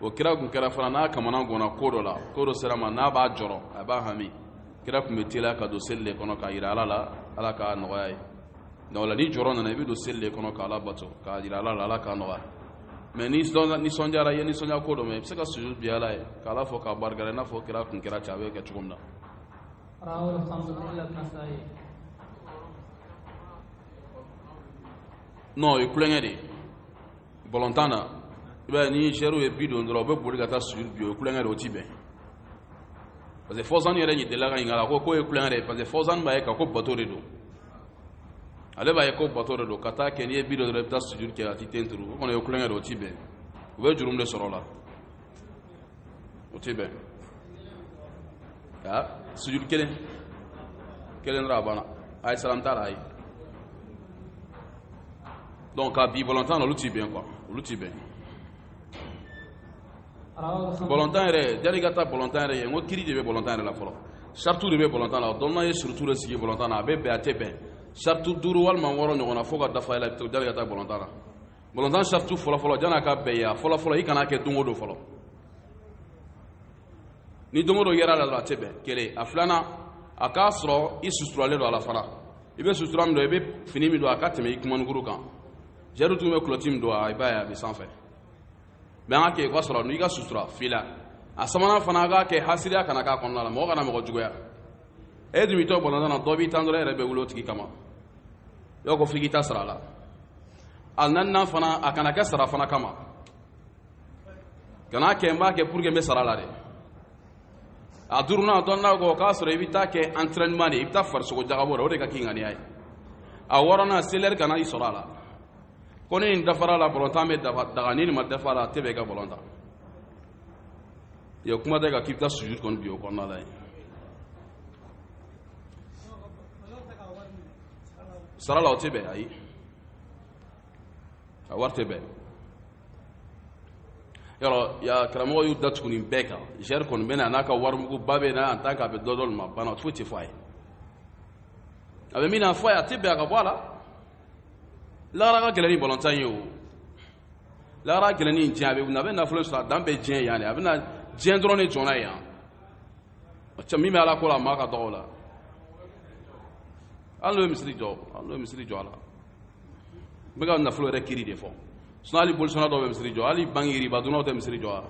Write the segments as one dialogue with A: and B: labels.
A: o kira tun kɛra fana n'a kamana gɔnna ko dɔ la ko dɔ sera ma n'a b'a jɔrɔ a b'a hami kira tun bɛ teliya ka don seli de kɔnɔ k'a jira ala la ala k'a nɔgɔya ye donc la ni jɔrɔ nana i bɛ don seli de kɔnɔ k'ala bato k'a jira ala la ala k'a nɔgɔya mɛ ni nisɔndiyara i ye nisɔndiya ko dɔ mɛn i bɛ se ka sujud bin ala ye k'ala fo k'a barikada i n'a fɔ kira tun kɛra cɛ a bɛ kɛ cogo min
B: na rawahul khamsa
A: illa nasai non o ye tulonkɛ de ye balontan na i b'a ye ni jɛriw ye bi don dɔrɔn u bɛ boli ka taa sujudi bin o ye tulonkɛ de o ti bɛn parce que fawzan yɛrɛ ɲitela ka ɲininka la ko k'o ye tulonkɛ de ye parce que fawzan b'a ye ka ko bato de don ale b'a ye ko bato de don ka taa kɛ n'i ye bi don dɔrɔn i bɛ taa sujudi kɛ a ti ten turu o kɔni o ye tulonkɛ de o ti bɛn u bɛ jurumu de sɔrɔ o la o tɛ bɛn aa sujudi kelen kelen dɔrɔn a banna ayi salam t'a la ayi donc ka bin balontan na olu ti bɛn quoi olu ti bɛn balontan yɛrɛ jani ka taa balontan yɛrɛ ye n ko kiri de bɛ balontan yɛrɛ la fɔlɔ saritiw de bɛ balontan la dɔnnaw ye surutu de sigi balontan na a bɛ bɛn a tɛ bɛn sariti duuru walima wɔɔrɔ ɲɔgɔnna fo ka dafa i la jani ka taa balontan na balontan saritu fɔlɔfɔlɔ jan'a ka bɛn i ye a fɔlɔfɔlɔ i kana kɛ don o don fɔlɔ ni don o don yɛrɛ la dɔrɔn a tɛ bɛn kelen a filanan a k'a sɔrɔ i suturalen don a la fana i bɛ sutura min don i bɛ fini min don a ka tɛmɛ i kumanikuru kan jɛriw tun bɛ kulɔti min don aw b'a ye a bɛ sanfɛ mɛ an ka kɛ i ka sɔrɔ n'i ka sutura f'i la a sabanan fana a k'a kɛ hasidiya kana k'a kɔnɔna la mɔgɔ kana mɔgɔ juguya e dun b'i to balontan na dɔ b'i tan dɔrɔn e yɛrɛ bɛ wuli o tigi kama yɔrɔ ko f'i k'i ta sara a la a naaninan fana a kana kɛ sara fana kama kana kɛ n b'a kɛ pour que n bɛ sara la dɛ a duurunan dɔnnaw ko k'a sɔrɔ i bɛ taa kɛ entraînement de i bɛ taa farisogo jagabɔ de o de ka k'i ŋaniya ye a wɔɔrɔnan selilɛri kana i sɔrɔ a la ko ni nin dafara a la balontan bɛ daga ni nin ma dafa a la a tɛ bɛn i ka balon tan ya kuma daga k'i bɛ taa sujud kɔni bin o kɔnɔna la yen sara la o tɛ bɛn ayi a wari tɛ bɛn yɔrɔ ya karamɔgɔw y'u datugu nin bɛɛ kan jɛri kɔni bɛ na a n'a ka warimuguba bɛ na en tant que a bɛ dɔ d'olu ma a banna foyi tɛ fɔ a ye a bɛ min na fɔ a ye a tɛ bɛn a ka bɔ a la lahara ka gɛlɛn ni balontan ye o lahara ka gɛlɛn ni diɲɛ a bɛ wuli a bɛ nafolo sɔrɔ a dan bɛ diɲɛ yan de a bɛ na diɲɛ dɔrɔn de jɔn na yan cɛ min bɛ ala ko la a mago ka dɔgɔ o la hali n'o ye misiri jɔ hali n'o ye misiri jɔ a la n bɛ ka nafolo yɛrɛ kiri de fɔ sinɔn hali bolisɔnna dɔw bɛ misiri jɔ hali banki riba dunnaw tɛ misiri jɔ a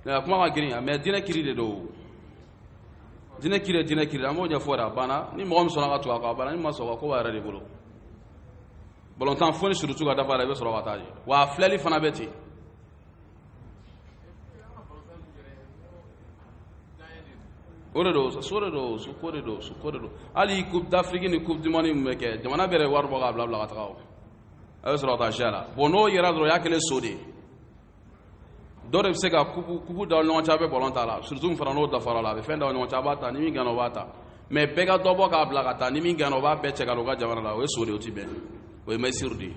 A: la kuma ka girin mɛ diinɛ kiri de don diinɛ kiri diinɛ kiri an b'o ɲɛfɔ da a banna ni mɔgɔ min sɔnna ka tugu a kɔ a banna n'i ma sɔn ka ko b'a yɛrɛ de bolo balontan fo ni surtout ka dafa la i bɛ sɔrɔ ka taa je wa a filɛli fana bɛ ten o de don so de don su ko de don su ko de don hali coupe d'afrique ni coupe du monde min bɛ kɛ jamana bɛɛ de wari bɔ k'a bila bila ka taga o a bɛ sɔrɔ ka taa ziya la bon n'o yera dɔrɔn o y'a kɛlen so de ye dɔ de bɛ se ka kupu kupu da ɲɔgɔn cɛ a bɛ balontan la surtout min fana n'o dafara la a bɛ fɛn da ɲɔgɔn cɛ a b'a ta ni min gana o b'a ta mɛ bɛɛ ka dɔ bɔ k'a bila ka taa ni min gana o b'a bɛɛ cɛ ka na u ka jamana la o ye so de ye o ti bɛn o ye mayisiru de ye